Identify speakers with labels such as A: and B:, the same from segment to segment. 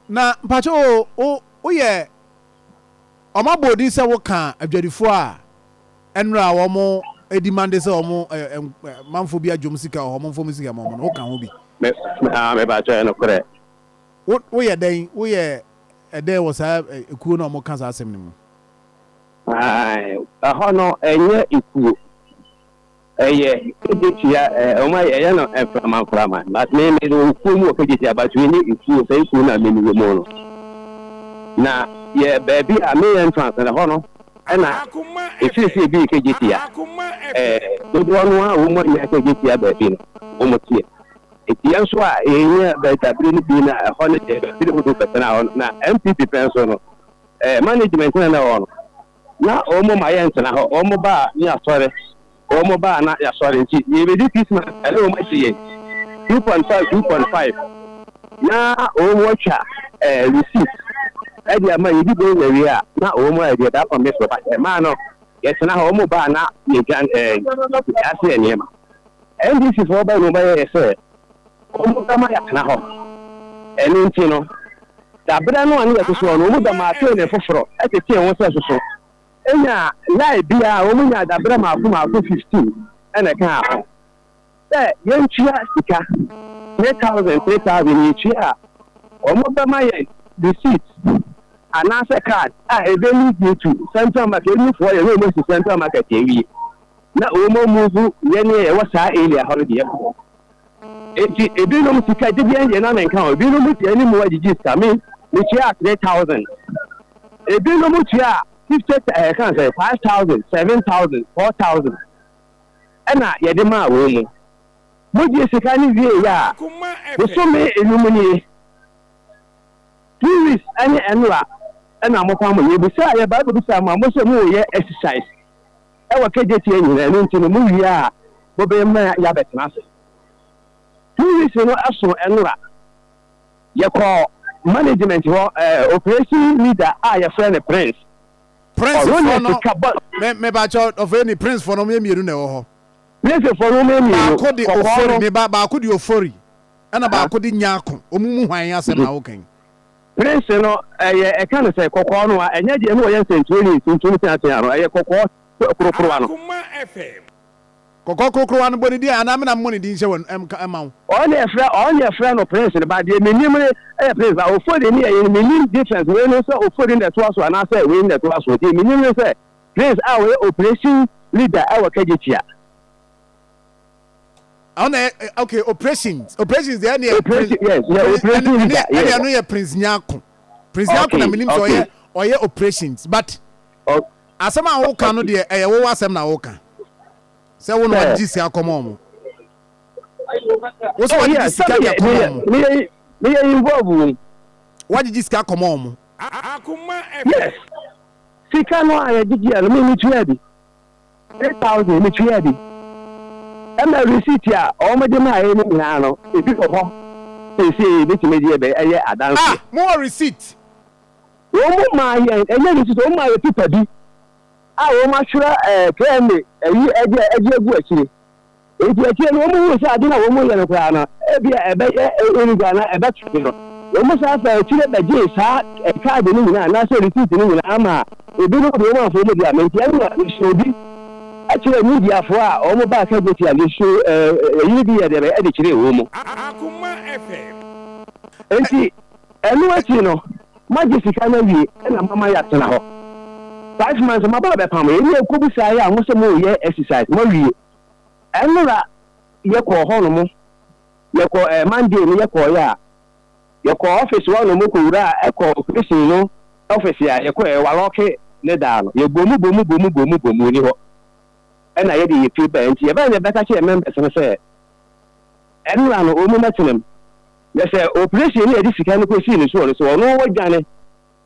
A: Na mpakyɛ o wo wo yɛ wɔn abɔ odin sɛ wo ka adwadifoɔ a ɛnora a wɔn edi mande sɛ wɔn ɛ ɛ manfoɔ bi adwom sika wɔn mfoɔ mu sika ma wɔn no wo ka ho bi. Me me ah me
B: mpakyɛ ɛyɛ nokorɛ. Wo wo
A: yɛ dɛn wo yɛ ɛdɛn wɔ saa ɛ ekuo no a wɔn ka saa asɛm no mu.
B: Ae ɛhɔ no ɛnyɛ ekuo. Ɛyɛ kagyɛtua ɛɛ wɔn ayɛ ɛyɛ no mframa mframa but me me de wɔ kuo mu wɔ kagyɛtua but wei ne nsuo sɛ nsuo na me me wɔ mu no na yɛ baabi a me yɛ ntrans na hɔ no ɛna efiesie bi kagyɛtua ɛɛ dodoɔ no a wɔn nyɛ kagyɛtua baabi no wɔn teɛ eti yɛn nso a yɛn nyɛ bɛtabiri no bi na ɛhɔ no deɛ bɛtabiri hodo bɛtena hɔ na MPP pɛn so no ɛɛ management na na hɔ no. Na wɔn ma yɛntena hɔ, wɔn ba a ne asɔre, wɔn ba a na yɛasɔre nti, yɛrebɛdi Christmas ɛne wɔn agye yɛn two point five, two point five, na wɔn atwa ɛɛ receipt ɛde ama yɛn, yɛdi bɔn yɛwie a, na wɔn ayɛ deɛ that convince me, but ɛmaa no yɛtena hɔ, wɔn ba a na yɛdwa ɛɛ yɛase yɛn nneɛma, NDC foɔ baeɛ na wɔn ba yɛɛ sɛ. wɔbɛma yɛatena hɔ. Ɛno nti no, dabrɛ no a na yɛte so hɔ no, wɔbɛma Atene foforɔ tetee ho sɛ soso. Ɛnna Lai bea a wɔnyaa dabrɛ mmaako mmaako 15 na ɛkaa ho. Sɛ yɛntua sika, three thousand, three thousand, yɛtua a, wɔbɛma yɛn receipt anaasɛ card a ɛbɛ lead you to Central Market. Ebifoɔ yɛ na wɔn asi Central Market awie, na wɔn amuvu yɛn ne yɛn wɔ saa area hɔ no deɛ kɔ. Enti ebinom sika gyegyeɛ deɛ na menka ho, ebinom deɛ ne mu agyegye sika, me metua three thousand, ebinom tua fifty ɛɛ eh, kan sɛ five thousand, seven thousand, four thousand, ɛna yɛde maa wɔn mu. Mogye sika ne wie yɛ a, bosome enum nie, two weeks ɛne ɛnora ɛna mofa mo yɛ bisa yɛ bible bisa mo a mo sɛ mo yɛ exercise. Wɔ Kejetia nyina, ɛno nti no mowie a mobeye ma yɛabɛtena ase. Two weeks no so nwora, yɛkɔɔ management hɔ, operation leader a yɛfrɛ no Prince. Prince foɔ
A: no, me, me ba kyɛ, ɔfrɛ ni, Prince foɔ no, wɔn yɛ mmienu na ɛwɔ hɔ. Prince foɔ no, wɔn
B: yɛ mmienu. Baako de Ofori, me
A: ba, baako de Ofori, ɛna baako de Nyako, wɔn mu hwan asɛm na wokan? Prince no
B: yɛ ɛka no sɛ kɔkɔɔ no a ɛnyɛ deɛ na wɔyɛ nsɛnkyerɛni tuntum teatea no, ɛyɛ kɔkɔɔ korokorowa no. Kɔkɔɔ
A: korokorowa no bɔ ne din a anaa me na memmɔ ne din nhyɛ wɔn mma wo? Ɔno na yɛfrɛ ɔno na
B: yɛfrɛ no Prince no ba, deɛ menim no yɛ Prince ba, Ofori ne yɛyere, mennim difference wei no sɛ Ofori na ɛtoa so anaa sɛ wei na ɛtoa so, deɛ menim ne sɛ Prince a ɔyɛ operation leader wɔ Kagyekyia.
A: ɔna ɛ ok operations operations deɛ ɛne operation
B: yes yɛ operation leader ɛne ɛne ɛno yɛ prince
A: nyako prince nyako na menim sɛ ɔyɛ ɔyɛ operations but asɛm a woka no deɛ ɛyɛ wowɔ asɛm na woka sɛ wo na wagye sika kɔma ɔmo wo sɛ wagye sika deɛ kɔma ɔmo meyɛ
B: involve wom wagye
A: sika kɔma ɔmo
B: yes sika no a yɛgyegye a no memetua bi Three thousand mi tua bi. Ɛna receipt a wɔn de maa yɛ no nyinaa no ebi wɔ hɔ seesei ebetumi de ɛbɛ ɛyɛ adanseɛ. Ah mo wɔ receipt.
A: Wɔn
B: maa yɛn ɛnyɛ receipt wɔn maa yɛ pipa bi a wɔn atwerɛ ɛɛ kra ne ɛyi ɛde ɛde agu akyire. Enti akyire no wɔhuu sɛ ade no a wɔreyɛ no koraa no, ebia ɛbɛyɛ eyi koraa na ɛbɛtwe no. Wɔsan faa akyire bɛgyee saa kaade no nyinaa anaasɛ risiiti no nyinaa maa ebinom de wɔn amforo mu dea. Enti ɛnna wɔsii obi kyerɛɛ Mediafoɔ a wɔbaa Kageti a wɔsuu eyi no bi yɛ dɛ bɛyɛ de kyerɛɛ wɔn mu.
C: Enti
B: ɛno akyi no, moagye sika no awie na moama yɛatena hɔ five months, moaba abɛpam yɛn. Yɛkɔbisaeɛ a, mo se moreyɛ exercise, moawie. Ɛnora yɛ kɔɔ hɔ no mo yɛ kɔɔ ɛɛ Monday no yɛ kɔɔ yɛ a yɛ kɔɔ office hɔ no mo kɔ wura a ɛkɔ operation no office a yɛ kɔ yɛ walɔke ne daa no yɛ bomu bomu bomu bomu bomu ɔni hɔ ɛna yɛ de yɛ pie bɛɛ nti yɛ bɛɛ yɛ bɛka kyerɛ members no sɛ ɛnora no ɔmu mɛ tenam yɛ sɛ operation no yɛ de sika no kɔ sii ne soɔ no sɛ ɔno wɔ dwane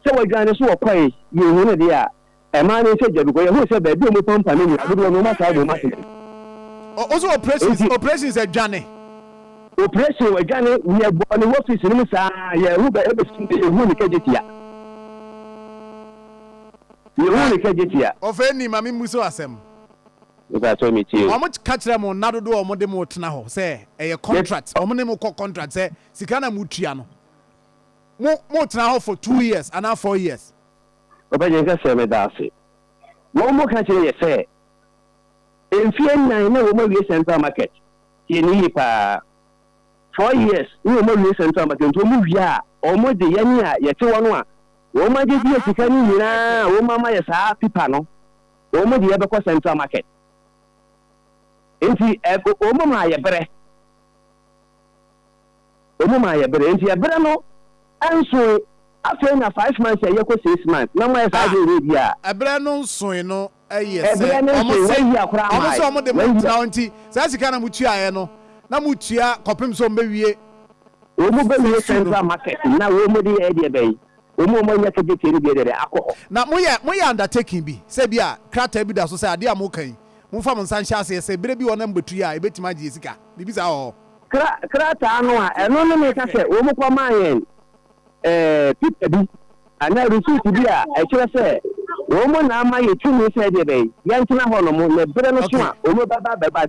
B: sɛ wɔ dwane so wɔ kɔɛ yɛ hu no deɛ a Ɛmaa ne nsa gya because yɛhuu sɛ baabi a wɔpampa no nyinaa dodoɔ no wɔataa abom ase dɛn. O o so
A: operations Enti operations adwane. operation
B: adwane yɛbɔɔ no wɔ office no mu saa yɛhu bɛ ɛbɛsi dɛ yɛhuu ne kagyetia. Yɛhuu ne kagyetia. Ɔfɛni ma me mmusa
A: wo asɛm. Mepakyɛw
B: metie o. Wɔn ka kyerɛ mo nna
A: dodoɔ a wɔn de mo tena hɔ sɛ ɛyɛ Me contract wɔn ne mo kɔ contract sɛ sika na mo tua no mo mo tena hɔ for two years anaa four years. Ɔbɛgye nka
B: sɛ meda ase. Wɔn ka kyerɛ yɛ sɛ mfie nnan na wɔn awie central market tie no yie paa four years na wɔn awie central market nti wɔn wie a wɔn de yɛn a yɛte hɔ no a wɔn agye die sika no nyinaa a wɔn ama yɛ saa pipa no wɔn de yɛbɛkɔ central market nti wɔn maa yɛ brɛ. Ɔmu maa yɛ bere, nti ɛbere no nsoe. Afei na five months a ɛyɛ kɔ six months, na ɔmo ayɛ saa herehere bia. Ah, ɛbere no nsoe
A: no yɛ sɛ Ɛbere no ɔmo nsoe, se, wɔayia koraa
B: ɔmo se mae, ɔmo de mo wɔayia. ntra
A: hɔ, nti saa sika na mo tuaeɛ no, na mo tua kɔpem sɛ ɔmo bɛwie Ɔmo
B: bɛwie sukuu no. Central Market, na wɔn mo de yɛɛ deɛ bɛn? Wɔn a wɔanya certificate no deɛ dɛdɛ akɔ hɔ. Na moyɛ moyɛ
A: undertaking bi, sɛ ebi a krataa bi da so sɛ adeɛ a moreka yi, momfa mo nsa nhyɛ aseɛ sɛ berɛ bi wɔnam bɛtu yɛ a ɛbɛtumi agye yɛ sika, biribi saa wɔ hɔ? Kra, krataa
B: no a, ɛno ne meka sɛ wɔkɔmaa yɛn eh, pipa bi anaa receipt bi a ɛkyerɛ sɛ wɔn na ama yɛ tumi sɛ ɛdeɛ bɛn, yɛntena hɔnom, na berɛ no so a wɔbɛba abɛba.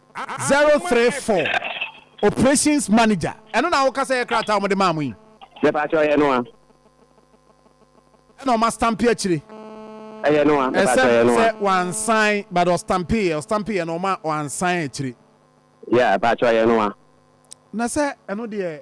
A: Zero three four operations manager ɛno na woka sɛ yɛ krataa a wɔde maa mo yi. Mepakyɛw
B: ɛyɛ
A: noa. Ɛna ɔma stampi akyire. Ɛyɛ noa
B: mepakyɛw ɛyɛ noa. Ɛsɛ
A: wansan but ɔstampi yɛ ɔstampi yɛ na ɔma wansan akyire. Yeah ɛpakyɛw
B: ɛyɛ noa. Na sɛ
A: ɛno deɛ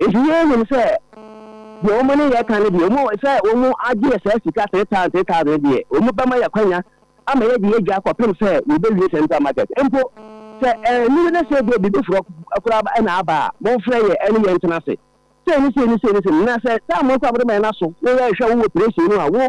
B: Enti yei nim sɛ deɛ wɔn ne yɛ ka no deɛ wɔn sɛ wɔn agye yɛ saa sika three thousand three thousand no deɛ wɔn bɛma yɛ akwanya ama yɛ de yɛ dwa kɔpem sɛ wɔbɛwie central market mpo sɛ ɛnuru ne sɛ deɛ biribi forɔ koraa ɛna aba a monfrɛ yɛ ɛne yɛ ntena ase sei ne sei ne sei ne sei na sɛ saa mo nso a mode ma yɛ no aso na yɛrehwɛ wo wɔ pire sei no a wo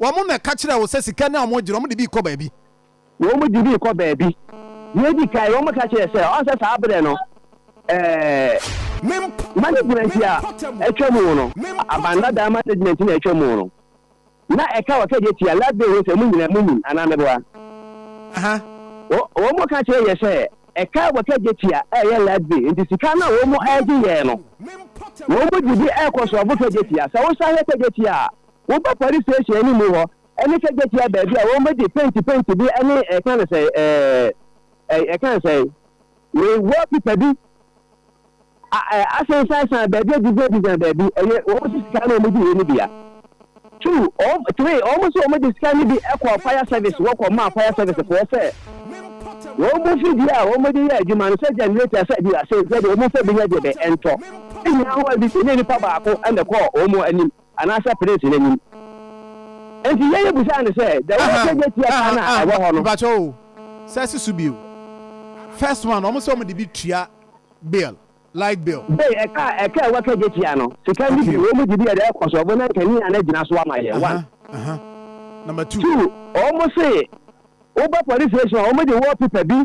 A: Wɔn na ɛka kyerɛɛ wo sɛ sika no a wɔgye no, wɔde bi rekɔ baabi. Wɔde bi
B: rekɔ baabi. Deɛ edi kan, wɔka kyerɛɛ sɛ, ɔn sɛ saa berɛ no, ɛɛ. Management a atwa mu no, aban dadaa management na atwa mu no, na ɛka wɔ kɛdeɛ tia, last day ho sɛ, mo nyinaa mo nim anaa meboa?
A: Wɔn
B: ka kyerɛ yɛ sɛ, ɛka wɔ kɛdeɛ tia ɛyɛ last day, nti sika no a wɔn ɛgye yɛ no, wɔn de bi ɛkɔ sɔɔbo kɛdeɛ tia. Sɛ wosan hwɛ kɛdeɛ tia a, Woba police station animu hɔ ne sɛ gyatia baabi a wɔn bɛdi penti penti bi ne ɛka no sɛ ɛɛ ɛka no sɛ we wall pipa bi a ɛɛ asensan san baabi a design design baabi ɛyɛ wɔn si sika na wɔn di yɛ ne bia two wɔn three wɔn so wɔn de sika ne bi ɛkɔ fire service wɔkɔ maa fire service foɔ sɛ wɔn mu fi bi a wɔn de yɛ adwuma no sɛ generator sɛ bi asɛ sɛ de wɔn fɛ bi nyɛ de bɛ ɛntɔ ɛnyɛ ahoɔ bi sɛ ne nipa baako ɛna kɔɔ wɔn anim. Anaasɛ Prince no anim. Enti Yeye bisaa no sɛ, Deɛ woreka nyɛ tia paa no a ɛwɔ hɔ no? Mepakyɛ wo,
A: sɛ si so bio. First one, wɔn sɛ wɔn de bi tua bill, light bill. Bay, ɛka a ɛka a wɔka
B: nyɛ tia no, sika no bi, wɔn de bi yɛde rekɔ so, wɔn na nkanea no agyina so ama yɛn, one.
A: Number two. Two, wɔn se,
B: wobɛ police station a, wɔn de wallpaper bi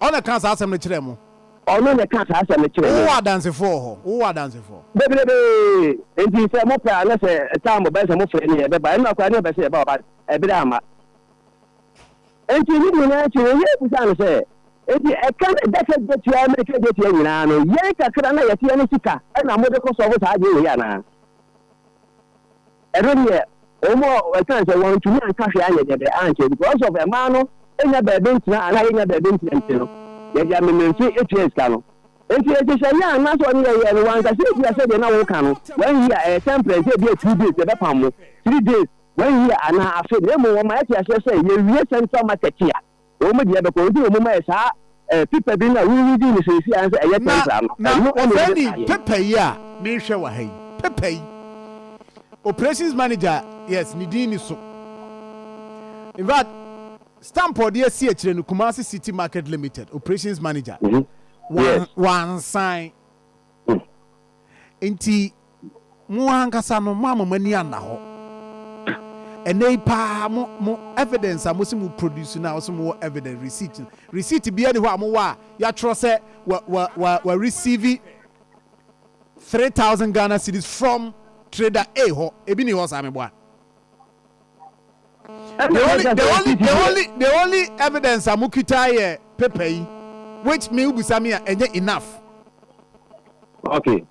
B: Ɔno na
A: ɛkaa saa asɛm no kyerɛɛ mo. Ɔno na ɛkaa saa
B: asɛm no kyerɛɛ yɛn. Wowɔ adansefo wɔ hɔ? Wowɔ
A: adansefo? Bebrebe!
B: Enti sɛ mopɛ a, na sɛ time ɔbɛyɛ sɛ mofrɛ no yɛn bɛba. Ɛnora koraa na yɛpɛ sɛ yɛba ba ɛbere amma. Enti ne nyinaa akyi no, Hiob bisaa no sɛ, Enti ɛka ne daka dwatua ne ɛka dwatua nyinaa no, yɛn kakra na yɛteɛ ne sika na mode kɔsɔɔfo saa adwene wei anaa? Ɛno deɛ wɔn a wɔka no sɛ wɔantumi anka hwee anyɛ deɛ bɛyɛ ankyerɛ because of mmaa no nya baabi ntena anaa yɛnya baabi ntena nti no yɛde amememfe tua sika no nti nhyehyɛeɛ a na sɛ ɔne yɛyɛ no wanka sɛ ebia sɛdeɛ na woka no one year ɛyɛ temperance ebia two days yɛbɛpam mo three days one year anaa afe na mmom wɔma yɛte aseɛ sɛ yɛwie central market a Wɔn deɛ ɛbɛkɔ nti na wɔn mayɛ saa ɛɛ pipa bi no a wo reading no seesei ara sɛ ɛyɛ Na tempera no. na Ɛno ɛna wɔfrɛ no ɛbɛkaeɛ. paper
A: yi a merehwɛ wɔ ha yi paper yi operations manager yes ne din ni so infact stamp a ɔde asi akyire no Kumasi City Market Limited operations manager Mhm. Yes. wan wansan Mm. nti Mo ankasa no, moama mo ani anna hɔ. Ɛnnɛ yi paa, mo, mo evidence a mose mo produce no a wɔse mowɔ evidence, receipt no, receipt biara nni hɔ a mowɔ a yɛatwerɛ sɛ wa, wa, wa, wa receive three thousand Ghana cedis from Trader A hɔ. Ebi nni hɔ saa, meboa? the only the only the only the only evidence a mo kita yɛ paper yi which mi bisa mi a ɛnyɛ enough.
B: okay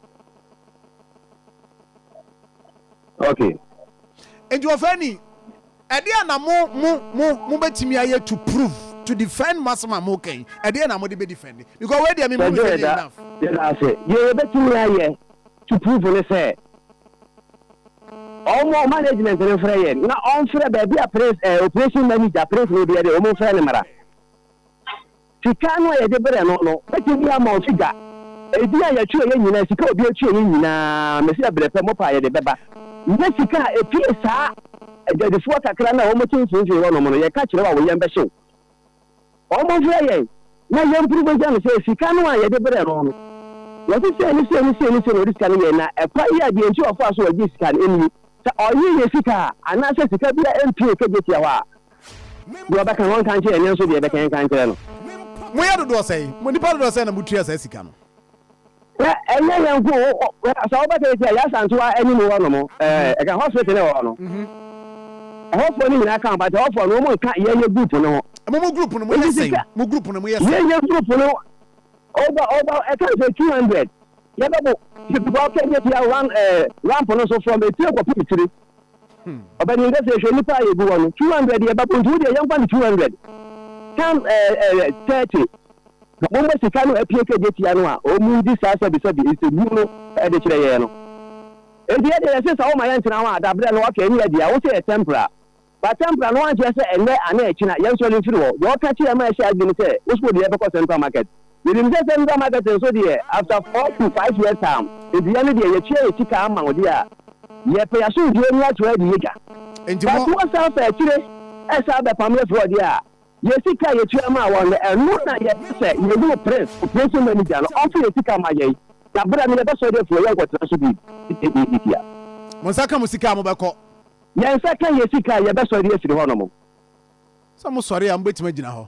A: okay. nti wɔfɛ ni ɛdeɛ na mo mo mo mo bɛtumi ayɛ to prove to defend mo asɛm a mo kɛn ɛdeɛ na mo de bɛ defend because wei deɛ mi mu mi yɛ enough. yɛ yɛ
B: bɛtumi ayɛ. To proof ne sɛ ɔmo management no frɛ yɛn na ɔnfrɛ baabi a prince ɛɛ operation manager prince no deɛ de ɔmo nfrɛ no mmra sika no a yɛde brɛ no no bɛtumi ama ɔfi gya ebi a yɛtua yɛn nyinaa sika a obi atua yɛn nyinaa mesi ɛbrɛ pɛ mɔpa a yɛde bɛba nyɛ sika a epie saa adwadifoɔ kakra no a wɔn te mfimfini hɔ nom no yɛka kyerɛ wɔ a wɔyɛn bɛhyew Wɔfrɛ yɛn na yɛmpuru bogya no sɛ sika no a yɛde brɛɛ no no, wɔse sei ne sei ne sei ne sei na ɔde sika no yɛe, na ɛkwan yi a deɛ nti a ɔfaa so a ɔgyee sika no nie. Sɛ ɔyee yɛn sika a, anaasɛ sika biara mpue ka gye tia hɔ a, deɛ ɔbɛka no ɔnka nkyerɛ yɛn, nanso deɛ ɛbɛka yɛn nka nkyerɛ no. Moyɛ dodoɔ
A: sɛn? Mo nnipa dodoɔ sɛn na motua saa sika no? Na
B: ɛnyɛ yɛn nko o, sɛ wobɛ sɛ yɛtia yɛ asantewa anim hɔ nom, ɛka hospital ne wɔ hɔ no. Ɛhɔfoɔ no nyinaa ka ho, but ɛhɔfoɔ no wɔn nka yɛyɛ group no ho. Ɛmo mo group no mo yɛ
A: sɛn? Mo group no mo yɛ sɛn? Yɛyɛ group no
B: over over ɛka sɛ 200 yɛbɛbo sika ɔkɛ yɛ tia one ɛɛ ramp no so from etire kɔpem tire. Ɔpanin kɛse hwɛ nnipa a yɛgu hɔ no, 200 yɛ baboo nti wo deɛ yɛmfa no 200 tan ɛɛ 30 na mommɔ sika no apue kɛgye tia no a wɔredi saa sɛbesɛbe nsɛmhu no de kyerɛ yɛn no. Enti yɛ deɛ yɛse sɛ woma yɛntena hɔ a dabrɛ no ɔkɛ ne yɛ deɛ a wose yɛ tempera but tempera no ankyerɛ sɛ ɛnnɛ anaa ɛkyena yɛnsɔre mfiri hɔ. Deɛ ɔka kyeɛ ma ɛhyɛ adwene ne sɛ wo sɛ wo deɛ yɛbɛkɔ central market. Yɛnim sɛ central market nso deɛ after four to five years time edua no deɛ yɛtua yɛ sika ama wo deɛ a, yɛpɛ yasomdwoeɛ ne yɛato adi yɛ dwa. Nti mo. But wo san fa akyire san bɛpam yɛ frɔ deɛ a, yɛ sika a yɛtua maa wɔn no, ɛno na yɛpɛ sɛ yɛhunu Prince, operation manager no, ɔmfa yɛ sika ma yɛn na berɛ no yɛbɛsɔ de afiri hɔ yɛnkɔtena so biribiara. Mo nsa ka mo
A: sika a mobɛkɔ. Yɛn nsa ka
B: yɛ sika a yɛbɛsɔ de afiri hɔnom. Sɛ
A: mosɔre a mobɛtumi agyina hɔ.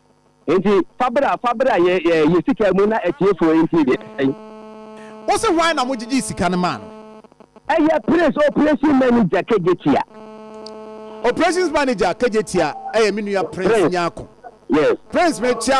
B: Enti fa bra, fa bra yɛ yɛ yɛ sika mu na atiefoɔ ntie deɛ ɛsɛe.
A: Wose hwan na mogyigyee sika no maa no? Ɛyɛ
B: Prince Operation Manager Kejetia.
A: Operations Manager Kejetia ɛyɛ me nua Prince Nyarko. Yes. Prince mekyea wo.